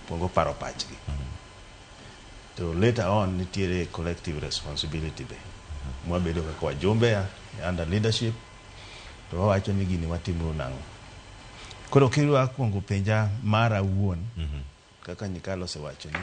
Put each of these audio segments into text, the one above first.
Okuongo paro pachgi. To later on nitiere collective responsibility be. Mwabedo kaka wajumbe ya under leadership to wawacho ni gini watimo nang'o. Koro kidwa akuongo penja mara awuon kaka Nyikalo osewacho ni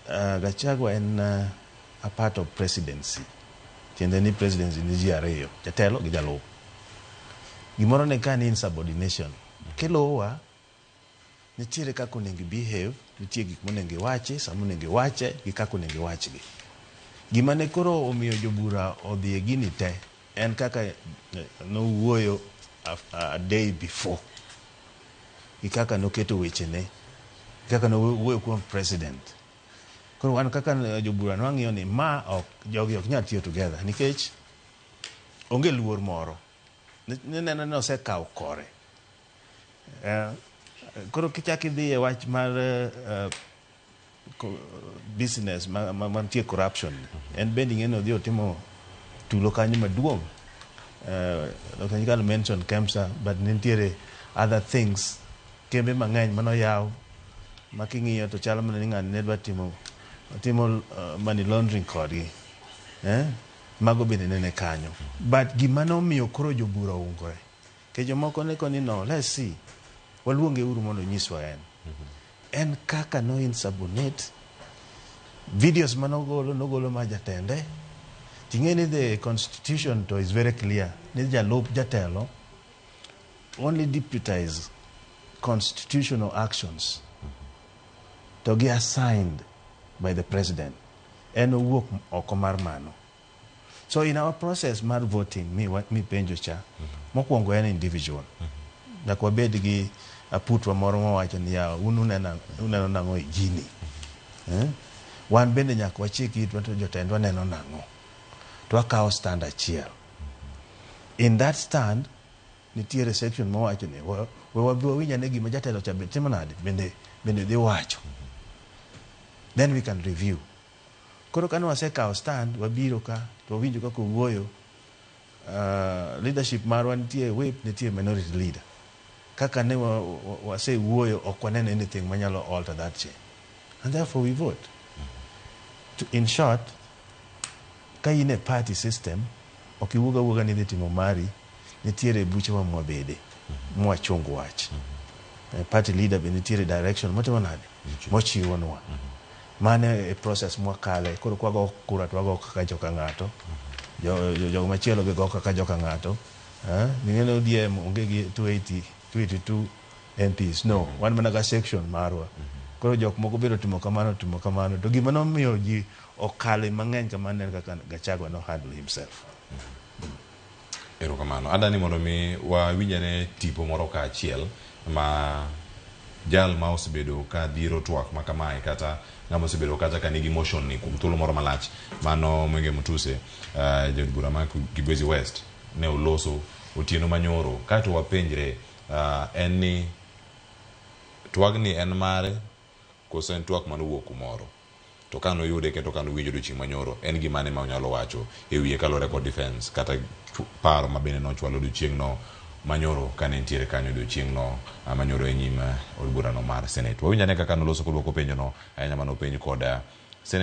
uh, Gachagua en uh, a part of presidency. Tiende ni presidency ni ji ariyo, jatelo gi jalup. Gimoro ne ka ni insubordination. Kiluwa Nitiere kaka onego ibehave, nitie gik monego iwachi, sama onego iwache gi kaka onego iwachgi. Gima ne koro omiyo jobura odhi e gini te en kaka nowuoyo a day before gi kaka noketo wechene, kaka nowuoyo kuom president. Koro wan kaka jobura ne wang'iyo ni ma ok, jogi ok nyal tiyo together nikech onge luor moro. Nineno ni osekawo kore. Eh, koro kichak idhi e wach mar eh, eh, ko- business ma- ma- mantie corruption en bende ing'eni odhi otimo tulo kanyo maduong' Eh, Dr. Nyikal mention Kemsa but nitiere other things kembe mang'eny mano yaw ma king'iyo to chalo mana ni ng'ani ne dwa timo timo eh, money laundering kodgi eh? mago bende nene kanyo but gima nomiyo koro jobura oungore To jomoko ne koni no, let's see, waluonge uru mondo onyiswa en. En kaka no insubordinate, videos ma nogolo, nogolo ma jatende. Ting'e ni the constitution to is very clear, ni jalup jatelo only deputize constitutional actions to gi assigned by the president. En owuok oko mar mano. So in our process mar voting mipenjo cha, mokuongo en individual. Nyaka wabed gi aputwa moro mawacho ni yawa un uneno nang'o e gini. Eh? Wan bende nyaka wachik itwa to jotendwa neno nang'o. To wakawo stand achiel. In that stand, nitiere section mawacho ni we wabi wawinja ni gima jatelo cha be timo nade bende bende dhi wacho. Then we can review. Koro kane wasekawo stand, wabiro ka to wawinjo kaka owuoyo, uh, leadership marwa nitie whip, nitie minority leader. Kaka ne wa- wa- wasewuoyo, ok waneno anything manyalo alter that change. And therefore we vote. To, in short, ka in e party system, ok iwuog awuoga ni idhi timo mari, nitiere buche ma mwabede mwachung wach eh, party leader be nitiere direction motimo nade mochiwonwa mano e process mwakale koro kwago kura to wago kaka joka ng'ato Jo- jo- jogo machielo be go kaka joka ng'ato Eh, ning'e ni odm onge gi 280 282 mps no wan mana ga section marwa koro jok moko biro timo kamano timo kamano to gima nomiyo ji okale mang'eny kamano en kaka gachagua no handle himself Erokamano. Adani mondo mi wawinj ane tipo moro kaachiel ma jal ma osebedo ka dhiro twak ma kamae kata ng'ama osebedo kata ka nigi motion ni kuom thuolo moro malach mano Mwenge Mutuse uh, jod bura ma Kibwezi West ne oloso otieno manyoro kato wapenjre uh, en ni twagni en mare koso en twak manowuok kumoro To ka noyude kendo ka nowinje odiochieng' manyoro, en gimane ma onyalo wacho e wiye kaluwore kod defence kata paro ma bende nochwal odiochieng'no manyoro kane entiere kanyo odiochieng'no manyoro e nyim od burano mar Senate? Wawinj ane kaka noloso koduoko penjono, ahinya mane openj kod Senate.